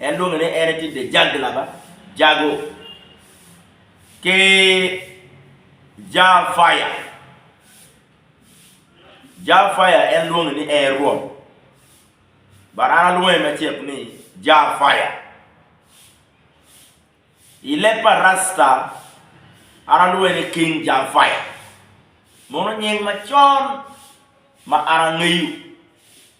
En lwonge ni en aye tye Dejag laba jago ki Jal Fire. Jal Fire en lwonge ni ee Rwom. But an alwonge macek ni Jal Fire. I leb pa Rasta an alwonge ni King Jal Fire. Mono nying macon ma an angeyo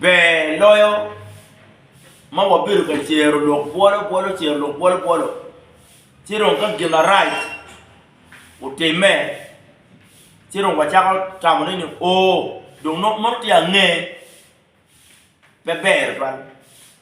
Ber loyo ma wabedo ka cero lok bwolo bwolo, cero lok bwolo bwolo ci dong ka gin marac otimme ci dong wacako tamo ni oo dong nongo tye ange pe ber tutwal.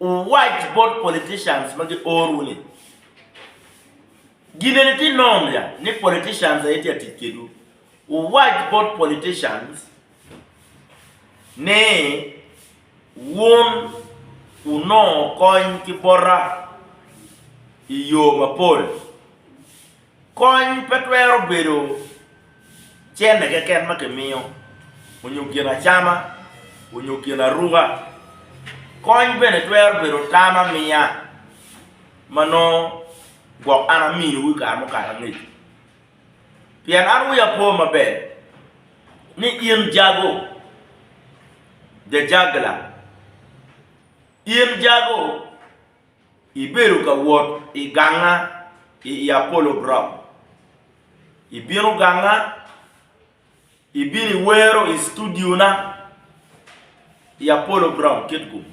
Wuwac bot politicians ma gi or wu ni, Gineni ti nom ya ni politicians aye ti atic kedwu? Wuwac bot politicians ni, Wun wunongo kony ki bota i yo mapol. Kony pe twero bedo cente keken ma kimiyo, onyo gin acama, onyo gin aruka. Kony bene twero bedo tam amiya ma nongo gwok an aminiwu i kare mukato angec. Pien an wiya po maber ni in jago, jajagla, in jago. Ibedo ka wot i ganga i i Apollo Ground. Ibino ganga, ibino iwero i studiona i Apollo Ground kit kumi.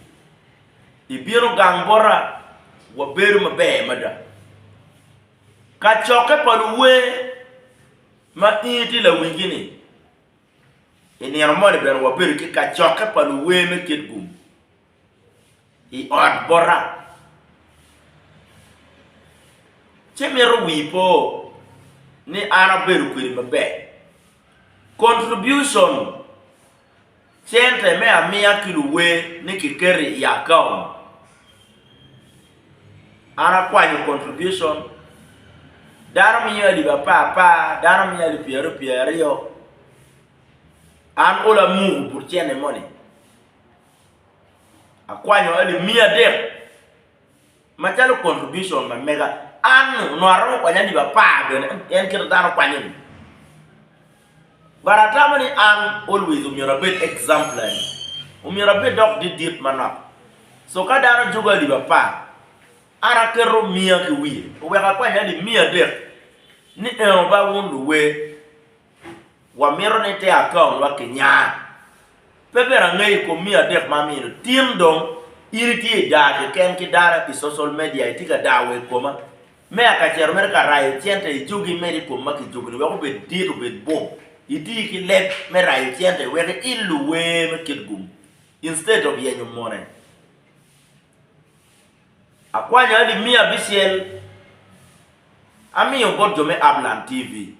Ibino gang bota, wabedo maber mada. Kacokke pa luwer ma in itye lawingi-ni, i nino moni bene wabedo ki kacokke pa luwer me kit kumi. i ot bota, ci mito wii po ni an abedo kwedi maber. Contribution cente me amiya ki luwer ni kiketo i akaont, an akwanyo contribution dano miyo alip apar apar, dano miyo alip pyera aryo pyera aryo, an ola muku but cente moni. Akwanyo eni miya adek macalo contribution ma mega. An onongo aromo kwanyo alip apar bene en kite dano kwanyo ni. But atamo ni an always myero abed exemplary, myero abed dok didit manok. So ka dano juko alip apar, an aketo miya ki wiye oweko akwany alip miya adek ni eno ba wun luwer. wamito ni te akaonwa ki nyar. Pe ber angeyo i kom miyo adek ma amino, tin dong in itye i daa keken ki dara i social media itye ka daa wa i koma. Meya Kacero mere ka rayo cente i jogi imed i kom ma kijogoni wek obed dit obed bum. Iti ki leb me rayo cente wek iillu wer me kit gum instead of yenyo mone. Akwanyo adi miyo abicel amiyo bot jo me Upland TV.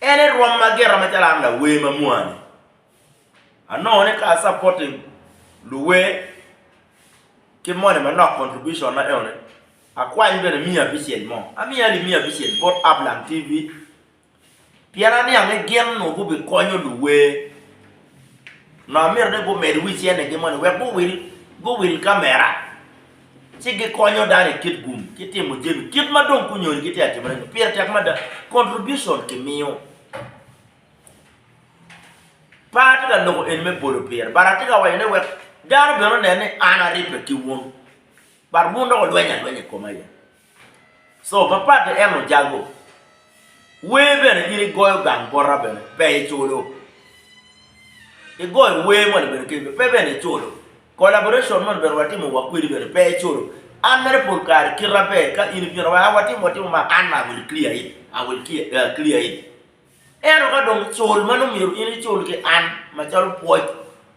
En e rwom ma gira macalo an lawer ma mwani. Anongo ni ka a supporting luwer ki moni manok contribution na eno ni akwany bene miya abicel mo. Amiya ni miya abicel bot Ablang TV pien aniang ni gin nwo gubi konyo luwer nwa amito ni gumed wic ene gi moni wek guwil guwil kamera. ci gikonyo dano i kit gum ki timo jami kit ma dong kunyonyo gitye ka timone-ni. Pire tek mada. Contribution kimiyo. Pe atye ka loko eni me bolo pire, but atye ka wacone wek dano bene onen ni an aribbe ki wun, but wun dok olweny alwenya i koma aye. Co mapat en ojago. Wer bene in igoyo gang bota bene pe iculo. Igoyo wer moni bene kebe pe bene iculo. Collaboration moni bene watimo wa kwedi bene pe iculo. An mere pol kare kita ber ka in ibino wa watimo watimo ma an ma I will clear it, I will clear it. Ento ka dong cul ma nongo myero in icul ki an macalo pwoc,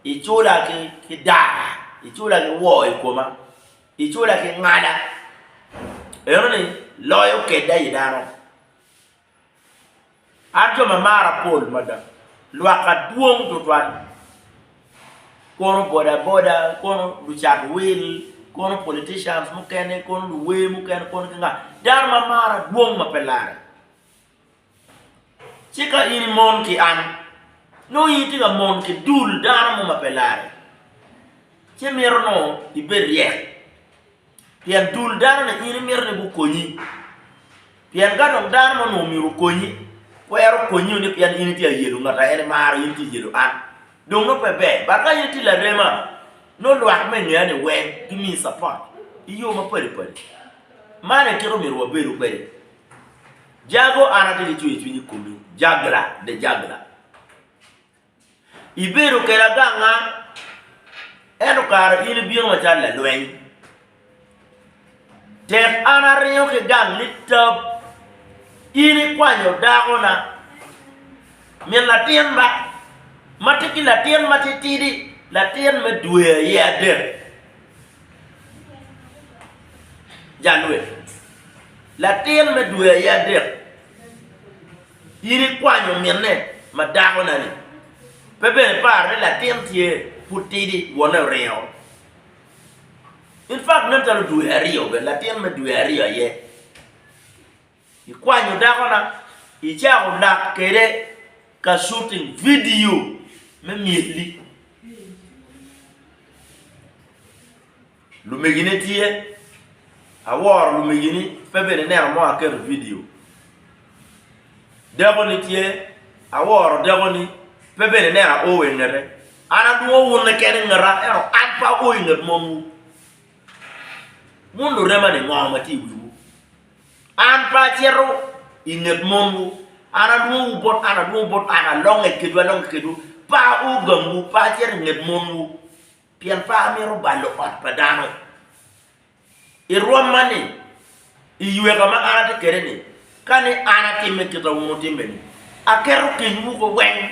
icula ki dar, icula ki woo I koma, Icula ki ngada, enoni loyo kedda i dano. An jo ma mara pol mada, lwakka dwong tutwal, kono bodaboda, kono lucat wil, kono politicians mukene, kono luwer mukene, kono ki nga, dano ma mara dwong ma pe larre. Ci ka in imon ki an, nongo in itye ka mon ki dul dano mo ma pe larre, ci mito nongo ibed ryek, pien dul danoni in imito ni gukonyi. Pien ka dong dano mo onongo myero okonyi, twero konyi ni pien in itye ka yelo ngat ma en imaro, in itye ka yelo an, dong nongo pe ber. Dok ka in itye larema, nongo lwak me i ngea-ni weng gimiyi capat i yo mapadi padi. Man aye kit ma omyero wabedo kwede. Jago an atye ki cwiny cwiny i komi, Jagla, the Jagla. Ibedo keda ganga, ento kara in ibino macalo lalweny. Tek an aringo ki gang ni tab, in ikwanyo dakona. Min latin ba, ma tye ki latin matitidi, latin me dwe aye adek. Jalweny, latin me dwe aye adek, in ikwanyo minne ma dakona-ni, pe bene iparo ni latin tye pud tidi, wonne oringo? In fact nen calo dwe aryo bene, latin me dwe aryo aye. Ikwanyo dakona, icako lak kwede ka shooting vidio me myelli. Lumegine tye, aworo lumegi ni pe bene ineno mo aketo vidio. Dakoni tye, aworo dakoni pe bene ineno ao wa i ngete. An adwongo wun keken i ngeta ento an pe ao i nget momwu. Wun lurema-ni ngo ma tye i wiwu? An pe acito i nget monwu, an alwongowu bot an, alwongowu bot an, alonge kedwu, alonge kedwu. Pe aogamwu, pe acito i nget monwu, pien pe amito balo ot pa dano. I rwom man-ni, i yweka ma an atye kwede-ni, ka ni an atimme kit ma wun wutimme-ni, aketo kenywu koweng.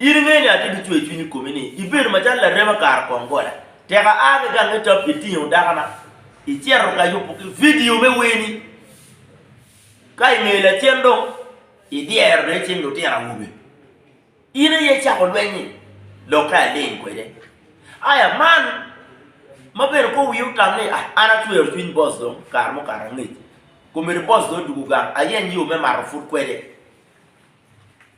In ingeyo ni atye ki cwercwiny i komi ni ibedo macalo larema kare kong gola. Tek aa ki gang me tap itingo dakana, icito ka yubo ki vidio me werni. Ka ingeyo lacen dong idyero dong icing lutino awobe. In aye icako lweny-nyi, lokke aling kwede. Aya man ma bene kong wiye otam ni ah an acwero cwiny boss dong kare mukato angec. Kombeddi boss dong odugo gang ayeny yo me mato pud kwede.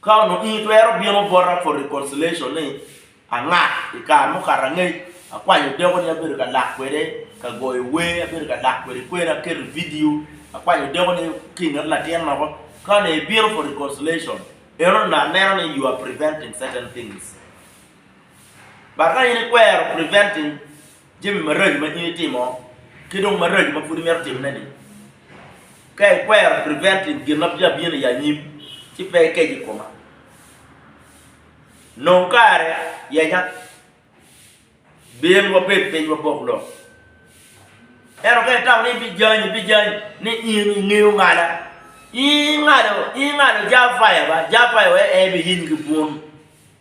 Ka onongo in itwero bino bota for reconciliation ni anga i kare mukato angec akwanyo deko ni abedo ka lak kwede ka goyo wer abedo ka lak kwede kwer aketo video akwanyo deko ni ki nget latin moko ka onongo ibino for reconciliation eno dong aneno ni you are preventing certain things but ka in ikwero preventing Jami maraco ma in itimo ki dong maraco ma pud imito timone ni. Ka ikwero preventing gin ma bya bino i anyim ci pe ikec i koma. Nong kare yenya. Bin wabed piny wabok lok. Ento ka itamo ni ibijany ibijany ni in ingeyo ngala, ingalo ingalo jafaya ba jafaya wek en biyiny ki bun.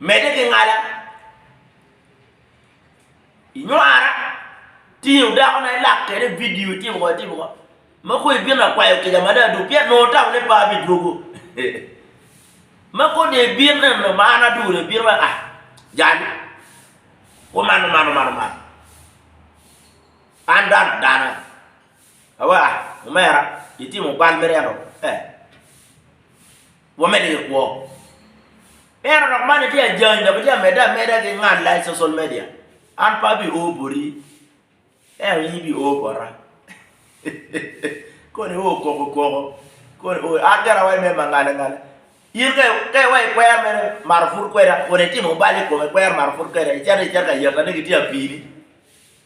Medde ki ngala, inywara, tingo dakona ilak kwede vidio itimo kong itimo kong, ma kong ibino akwayo kica mada adwogi pien nongo tamone pe abidwogo. Ma kong dong ibin neno ma an adwogo dong ibino mere ah jal-li omano mano mano mano, an dano adana awa ah omera itimo bal mere ento eh. Wamed ki kwo. Ento dok man itye ajany dok itye amedde ameda ki ngalla i social media. An pe abi oo boti, ento in ibi oo bota. Koni i oo koko koko, koni oo an gin awaco mere mangal angal. In ka ka iwaco ikwer mere mato pud kweda kun itimo bal i kome ikwer mato pud kweda icito icito ka yatane ki tye apini.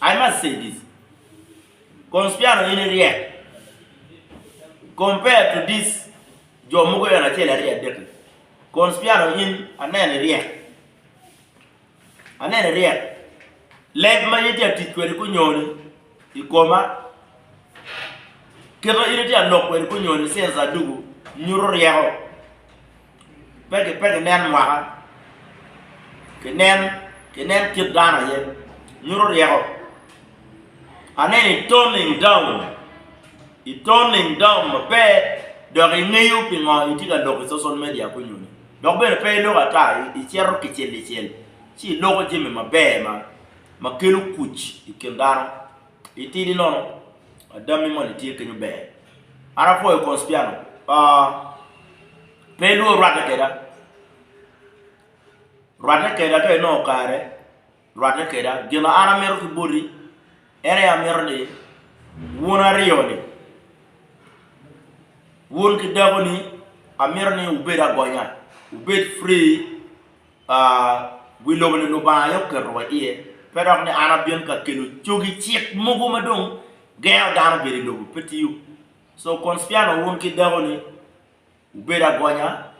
I must say this, Conspiano in iryek compared to this jo mogo eno acel aryo adek ni. Conspiano in aneno iryek. Aneno iryek. Leb ma in itye atic kwede kunyoni i koma kit ma in itye alok kwede kunyoni since adugu nyuto ryeko. pe pe ginen mwaka, ginen ginen kit dano aye, nyuto ryeko. Aneno i turning down, i turning down maber dok ingeyo pingo itye ka loko i social media kunyoni dok bene pe iloko ata icito kicel kicel ci iloko jami maber ma kelo kuc i kin dano. I tidi lono adammi moni tye kenyo ber. An apwoyo Conspiano. Uh, pe ilwor rwatte keda. Rwatte keda ka inongo kare, rwatte keda. Gin ma an amito ki boti en aye amito ni wun aryo-ni, wun ki dakoni amito ni wubed agonya, wubed free. Wi lobo-ni Lubanga aye oketo wa iye. Pe dok ni an abin ka kelo cogi cik mogo ma dong gengo dano bedo i lobo. Pe tiyo. So, Conspiano wun ki dakoni wubed agonya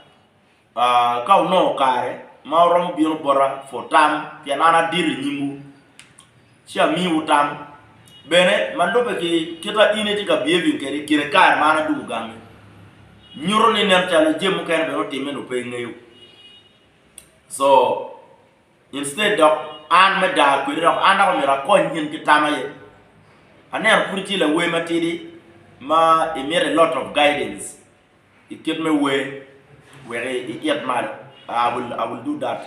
ka wunongo kare ma wuromo bino bota for tam pien an adito i nyimwu. Ci amiwu tam bene ma lubbe ki kite in itye ka behaving kwede i kine kare ma an adwogo gangi. Nyuto ni nen calo jami mukene bene otimme nyo pe ingeyo. So, instead dok an me daa kwedi dok an dok omyero akony in ki tam aye. Aneno pud itye lawer matidi ma imito a lot of guidance i kit me wer wek iit malo, I will do that.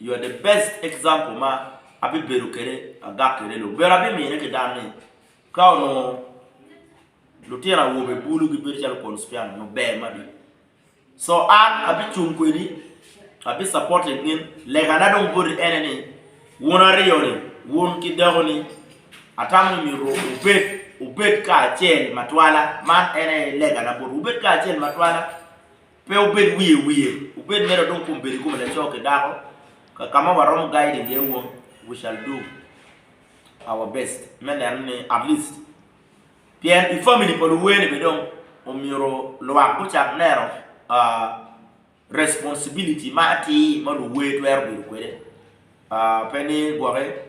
You are the best example ma abibedo kwede agak kwede lok. Bene abimine ki dan ni ka onongo lutino awobe bulu gibedo calo Pons Piano nongo ber mada. So an abicung kwedi, abi supporting gin. Legana dong boti ene ni wun aryo ni, wun ki dako ni atamo ni myero wubed wubed kacel matwala. Man en aye legana botwu, wubed kacel matwala. Pe wubed wiye wiye, wubed mere odong kom bedo i kome laco ki dako, kakama waromo guiding iye wun, we shall do our best me neno ni at least pien i family pa luwer ni bene dong omyero lwak gucak neno responsibility ma atir ma luwer twero bedo kwede, pe ni gwoki.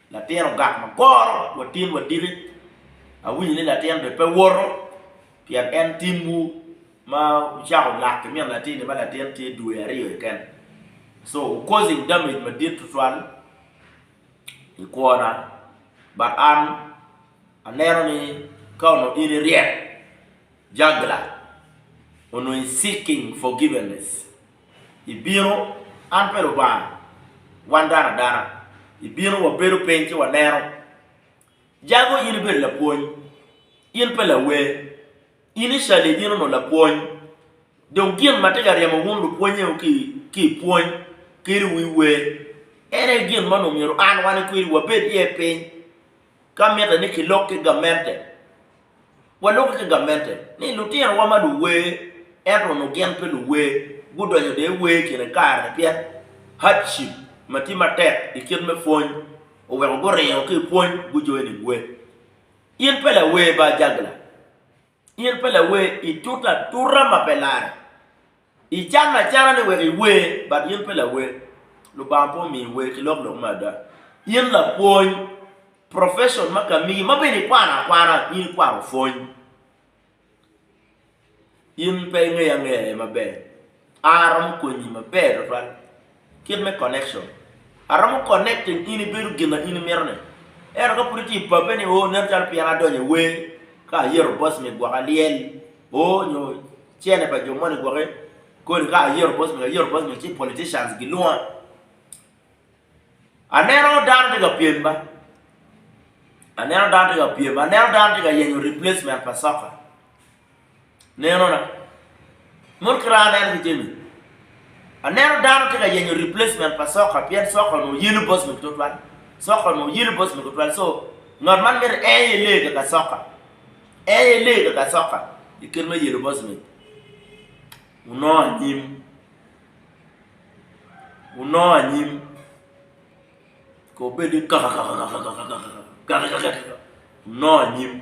Latin ogak ma goro wa tin wa diki. Awinyo ni latin be pe woto pien en tim wu ma wucako lak ki min latin ni ma latin tye dwe aryo keken. So u causing damage madit tutwal i kwo na but an aneno ni ka onongo in i ryek juggler onongo i seeking forgiveness. Ibino, an pe Lubanga, wan dano adana. Ibino, wabedo piny ci waneno. Jago in ibedo lapwony, in pe lawer. In icali ibino nongo lapwony. Dong gin ma tye ka ryemo wun lupwonnyeu ki i pwony kadi wi wer, en aye gin ma onongo myero an, wan kwiri wabed iye piny, ka mitte ni kilok ki gamente. Waluki ki gamente ni lutinowa ma luwer ento onongo gin pe luwer gudonyo dong i wer kine kare-ni pien hardship ma tye matek i kit me pwony oweko guringo ki i pwony gujoining wer. In pe lawer ba jagla? In pe lawer? I tuta tuta ma pe lare, Icanne acana ni wek iwer, but in pe lawer. Lubanga pe omiyi wer ki lok lok me ada. In lapwony, profession ma ka miyi ma bene ikwano akwana, in ikwano pwony. In pe ingeya angeya aye maber. An aromo konyi maber tutwal. Kit me connection. Aromo connecting in ibedo gin na in imito ni. Ento ka pud itye i pabbe ni oo nen calo pien adonyo i wer, ka ayero boss me gwoko alyel, oo nyo cene pa jo moni gwoki, kodi ka ayero boss me ayero boss me ci politicians gilwonga. Aneno dano tye ka pyem ba. Aneno dano tye ka pyem, aneno dano tye ka yenyo replacement pa soccer. Nenona, mono kiraa aneno ki jami. Aneno dano tye ka yenyo replacement pa soka pien soka onongo yelo boss mege tutwal. Soka onongo yelo boss mege tutwal so ngat man miti en aye lee kaka soka. En aye lee kaka soka i kit me yelo boss mege. Wunongo anyim, wunongo anyim kong obed ni kakakakakakakakaka, kakakakakaka, wunongo anyim.